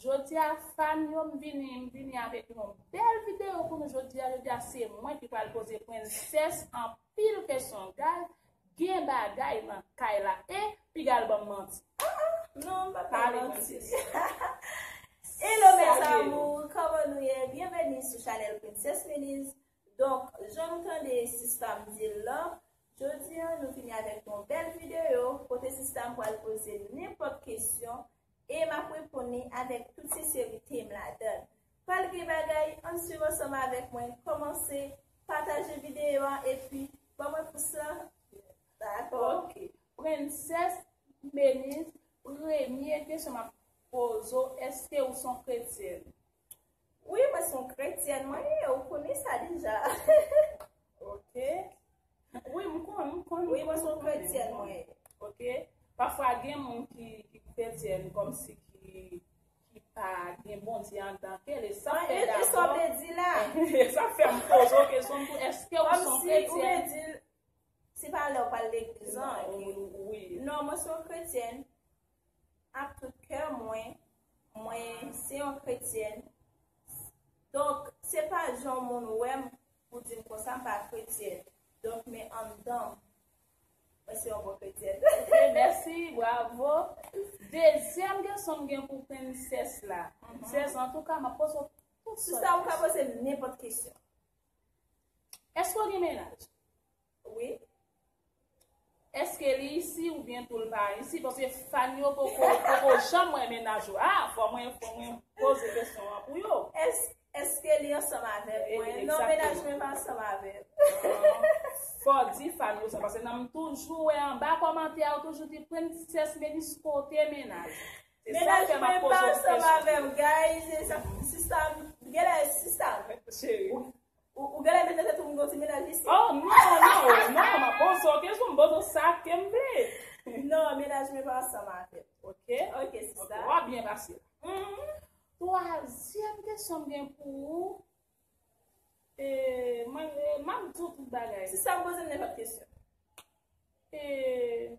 Jodia fan yo m vini m vini avek yon bel video pou nou jodia jodia se mwen ki pral poze prenses anpil kesyon guyy gen bagay nan kay la e pigal banm manti ah ah non m pap pale manti Hello mes amours koman nou ye byenveni sou chanel prinses Miliz Donk jan nou tande sista m di l lan, jodi an nou vini avèk yon bèl videyo kote sista m pral poze m nenpòt kesyon e m ap reponn li avèk tout senserite m ladan l. Pral gen bagay, ann swiv ansanm avèk mwen, kòmanse, pataje videyo a epi ban mwen pous lan. Dakò? Ok. Prensès Meniz, premye kesyon m ap poze w, èske ou s on kretyèn? Wi mwen son kretyèn mwen ye ou konnen sa deja ok wi m kon m kon wi mwen son kretyèn mwen ye ok pafwa gen moun ki ki kretyèn kom si ki ki pa gen bondye an dan ke le sa fè da e sa vle di la e sa fè m pozo ke son pou eske ou son kretyèn se pa lè ou pa legliz an wi non mwen son kretyèn Ak tout kè mwen, mwen se yon kretyèn. Donk, se pa jan moun wè m pou di m konsa, m pa kretyèn. Donk, men anndan m, mwen se yon bon kretyèn. Ok, mèsi, bravo. Dezyèm kesyon m gen pou prinses la. Prinses, antouka, m ap poze w tout sòt kesyon. Sista, ou ka poze m nenpòt kesyon. Èske w gen mennaj? Wi Eske li isi ou byen tou l pa isi paske fan yo poko poko janm wè mennaj yo a fò mwen fò mwen poze kesyon an pou yo. Eske li ansanm avèm mwen non mennaj mwen pa ansanm avèm. Ahh fò w di fan yo sa paske nan m toujou wè anba kòmantè a ou toujou di princess Melice kote mennaj ou. Se sa k fè map poze w kesyon. Mennaj mwen pa ansanm avèm guys e sa sista m genlè sista m. Cheri. Ou genlè mete tèt ou nan ti mennaj isit. Oh non non non ma bozo kèm son bozo sa kèm vle. Non mennaj mwen pa ansanm avèm. Ok ok sista. Wap byen pase. Humm. Twazyèm kesyon m gen pou ou. Eee map di w tout bagay. Sista poze m nenpòt kesyon. Eee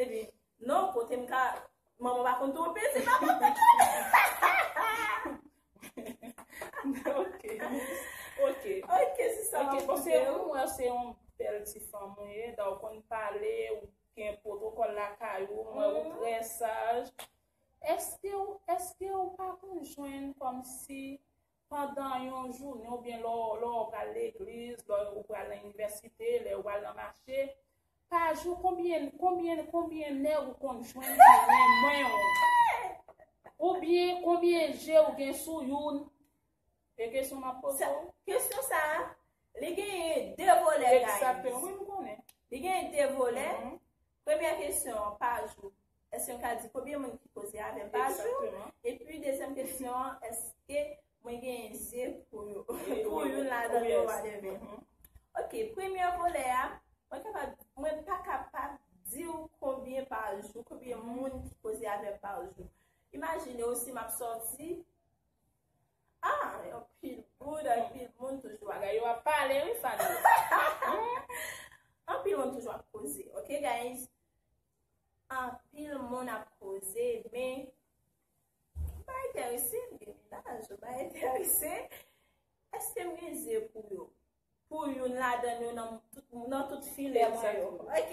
Epi non kote m ka manman pa konn twonpe se pa manman twonpe. Ok ok ok sista map koute w. Ok se ou wè se yon bèl ti fanm ou ye dan ou konn pale ou gen pwotokòl lakay ou m wè ou trè saj. Eske ou eske ou pa konn jwenn kòmsi. Pandan yon jounen oubyen lè ou pral legliz, lè ou pral nan inivèsite, lè ou pral nan mache, pa jou konbyen konbyen konbyen nèg ou konn jwenn ki renmen ou? Oubyen konbyen je ou gen sou youn? E kesyon map poze ou? Kesyon sa, li gen 2 volè guys. Exactement, wi m konnen. Li gen 2 volè. Premyè kesyon an, pa jou, èske m ka di konbyen moun ki koze avè m pa jou? Epi dezyèm kesyon an, èske mwen genyen zye pou youn ladan yo wadèvè? Ok, premyè volè a, mwen kapab, mwen pa kapab di w konbyen pa jou, konbyen moun ki koze avè m pa jou. Imajine w si m ap sòti. Ah, yon pil boud, yon pil moun toujou aga. Yo ap pale, yon fad. Yon pil moun toujou ap koze. Ok, guys? Yon pil moun ap koze, men, yon pa enterese, yon gen minaj, yon pa enterese. Eske m gen ze pou yo? Pou yon ladan yo nan tout filem sa yo. Ok?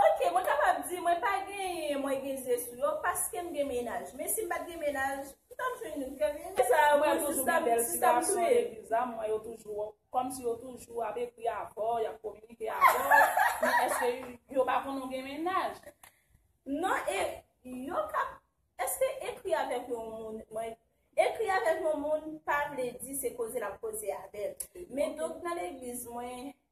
Ok, mwen kapab di mwen pa genyen mwen gen ze sou yo paske m gen mennaj. Men si m pat gen mennaj, m tap jwenn youn ke m renmen. Sa mwen toujou gen bèl ti gason epi zanm mwen yo toujou kòm si yo toujou ap ekri avè w, y ap kominike avè w. Men èske yo pa konnen w gen mennaj? Non e yo ka Èske ekri avèk yon moun mwen Ekri avèk yon moun pa vle di se koze l ap koze avè l. Men donk nan legliz mwen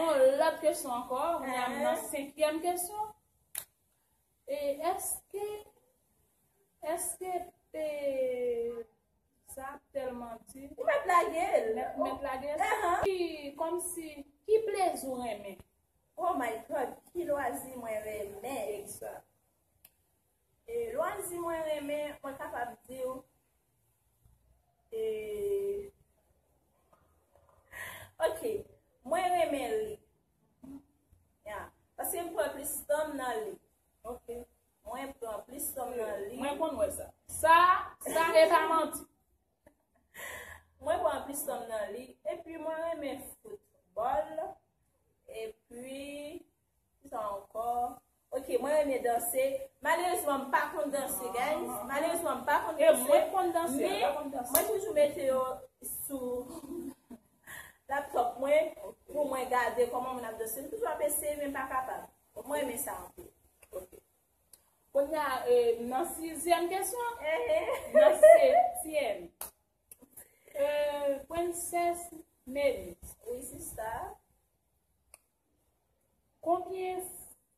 On lòt kesyon ankò, kounye a m nan senkyèm kesyon. E eske, eske pe sa tèlman di. Ou mèt lage l. Ou mèt lage l. Ki, kòm si, ki plezi ou renmen? Oh my God, ki lwazi mwen renmen? Exact. E lwazi mwen renmen, mwen kapab di w. E. Ok, mwen renmen li. Ya. Paske m pran plis tan m nan li. Ok. Mwen pran plis tan m nan li. Mwen konn wè sa. Sa, sa e pa manti. Mwen pran plis tan m nan li. E pi mwen renmen foutbòl. E pi. Ki sa ankò? Ok, mwen renmen danse. Malerezman m pa konn danse guys. Malerezman m pa konn danse. E mwen konn danse. Men, mwen toujou mete yo sou laptop mwen pou mwen gade koman moun ap danse. M toujou ap eseye men m pa kapab. Mwen renmen sa anpil. Ok. Kounye a, nan sizyèm kesyon. Nan setyèm. Pwennsès Meli. Wi sista. Konbyen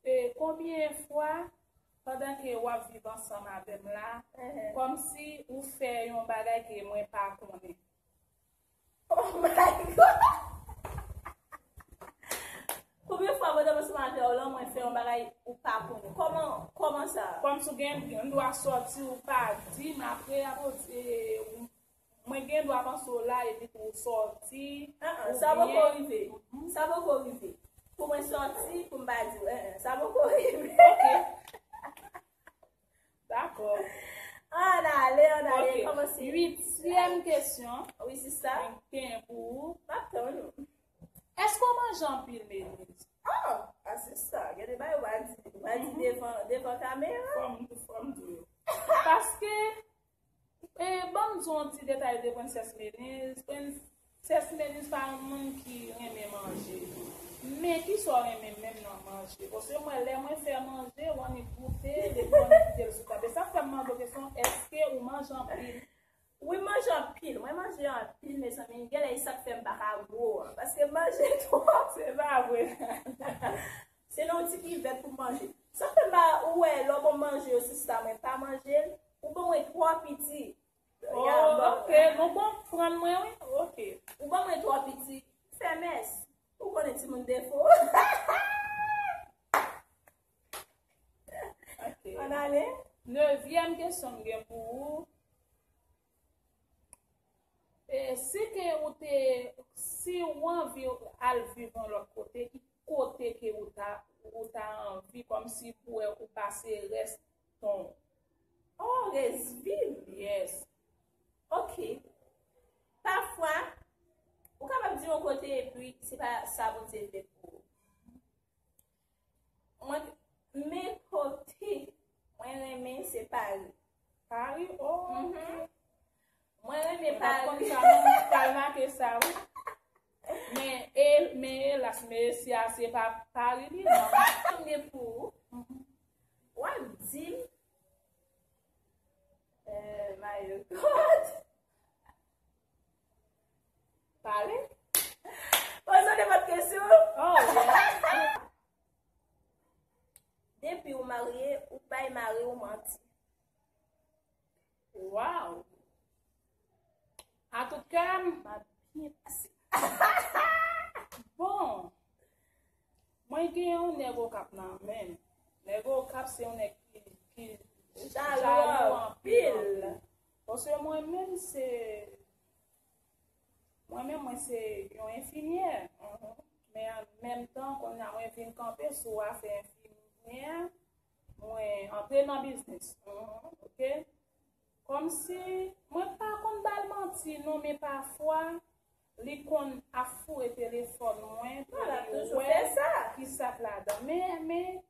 e konbyen e fwa pandan ke wap viv ansanm avèm la kòmsi ou fè yon bagay ke mwen pa konnen. Oh my God! Konbyen fwa pandan m ansanm avèw lan mwen fè yon bagay ou pa konnen. Kòman kòman sa? Kòmsi ou gen dwa sòti ou pa dim apre ou Mwen gen dwa panse w la epi pou w sòti, oubyen. Sa poko rive. Sa poko rive. Pou mwen sòti, pou m pa di w. Sa poko rive. Ok. Dakò. An ale, an ale. Ok. Kòmanse. Uityèm kesyon. Wi, sista. Mwen gen pou ou. M ap tann ou. Èske ou manje anpil, Meniz? An! A sista, gen de bagay ou pa di. Ou pa di devan kamera. Fò m di w. Paske, Banm di w yon ti detay de Princess Meniz, Princess Meniz pa yon moun ki renmen manje, men kisa w renmen menm nan manje? Paske mwen lè mwen fè manje, w annik goute l epi w annik kite l sou tab. E sa k fè m mande w kesyon, èske ou manje anpil? Wi m manje anpil, mwen manje anpil mezanmi, genlè e sa k fè m pa ka gwo an, paske m manje twòp. Se pa vre? Se nan yon ti kivèt pou manje. Sa fè mal ou wè lò bon manje yo sou sa mwen pa manje l ou ban mwen twò piti. Oh ok bon bon fran mwen wi ok. Ou ban mwen twò piti. Femes. Ou konnen ti moun defo. Ok. An ale. Nevyèm kesyon m gen pou ou. E si ke ou te, si ou anvi al viv yon lòt kote, ki kote ke ou ta, ou ta anvi kòm si pou wè ou pase rès ton. Oh rès viv, yes. Ok. Pafwa, ou kapab di yon kote epi se pa sa Bondye vle pou ou. Mwen men kote mwen renmen se Paris. Paris oh. Mm-hmm. Mwen renmen Paris. Mwen pral make sa ou. Men e, men e las men e si a se pa Paris li nan. Mwen gen pou ou. Mm-hmm. Wap di m. Eh, mayo kot. Pale. Poze de vat kesyon. Depi ou marye, ou bay mari ou manti. Waw. A tout kèm. Ma byen pase. Bon. Mwen gen yon nego kap nan men. Nego kap se yon nek ki. Jalou an pil. Paske mwen menm se mwen menm mwen se yon enfimyè men an menm tan kounye a mwen vin kanpe sou afè enfimyè mwen antre nan biznis ok kòm si mwen pa konn bal manti non men pafwa li konn ap foure telefòn mwen pou li wè kisa k ladan men men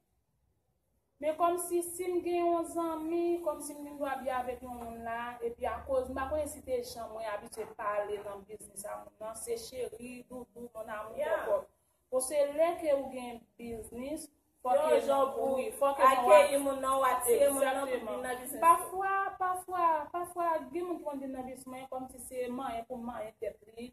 Men kòmsi sim gen yon zanmi, kòmsi m gen dwa byen avèk yon moun la, epi akoz, m pa konnen si se jan mwen abitye pale nan biznis a moun nan, se cheri, doudou, mon amour, kòkòt. Bon se lè ke ou gen biznis, fòk ke nou jan pou wi, fòk ke nou akeyi moun nan, ou atire moun nan pou vin nan biznis ou. Pafwa, pafwa, pafwa gen moun ki konn vin nan biznis mwen kòmsi se manyen pou manyen tèt li.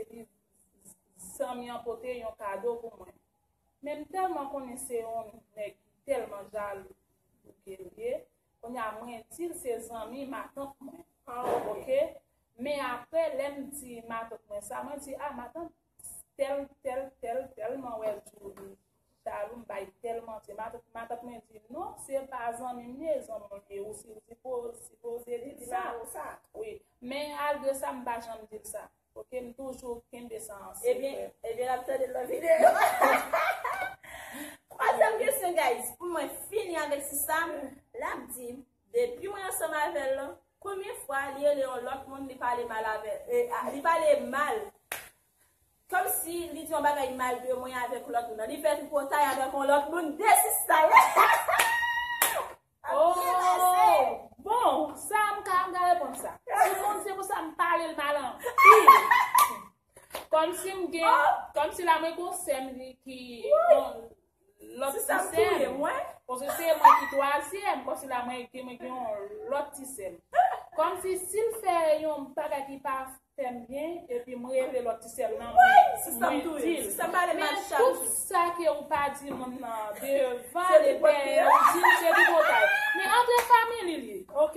Epi zanmi an pote yon kado pou mwen. Men m tèlman konnen se yon nèg ki tèlman jalou bouke l ye. Kounye a mwen di l se zanmi matant mwen. Ok. Men apre lè m di matant mwen sa, mwen di a matant tèl tèl tèl tèlman wè Djoulie Jalou m bay tel manti. Matant mwen di non se pa zanmim li e zanmi w ye ou si w di pou si pou ze di sa ou sa wi men al de sa m pa janm di l sa ok m toujou kenbe sa an se ebyen ebyen lap tande lòt videyo twazyèm kesyon guys pou mwen fini avèk si sa lap di depi mwen ansanm avèl lan konbyen fwa li rele yon lòt moun li pale mal avèl li pale mal Kom si li di yon bagay mal de mwen avek lot moun. Li fe tripotay avek yon lot moun desistayy. Ooh bon sa m ka m ka reponn sa. Ti moun se pou sa m pale l mal anpil. Kom si m gen kom si la mwen gen yon sè m li ki. Lòt ti sèm. Ti sèm touye mwen. Paske se mwen ki twazyèm. Kòm si la mwen gen mwen gen yon lòt ti sèm. Kòm si si l fè yon bagay ki pa fè m byen epi m rele lòt ti sèm nan mwen di l. Ti sèm touye m. Ti sèm pale mal chak jou. Men tout sa ke ou pa di moun nan devan e dèyè ou di l se tripotay. Men antre family li ok.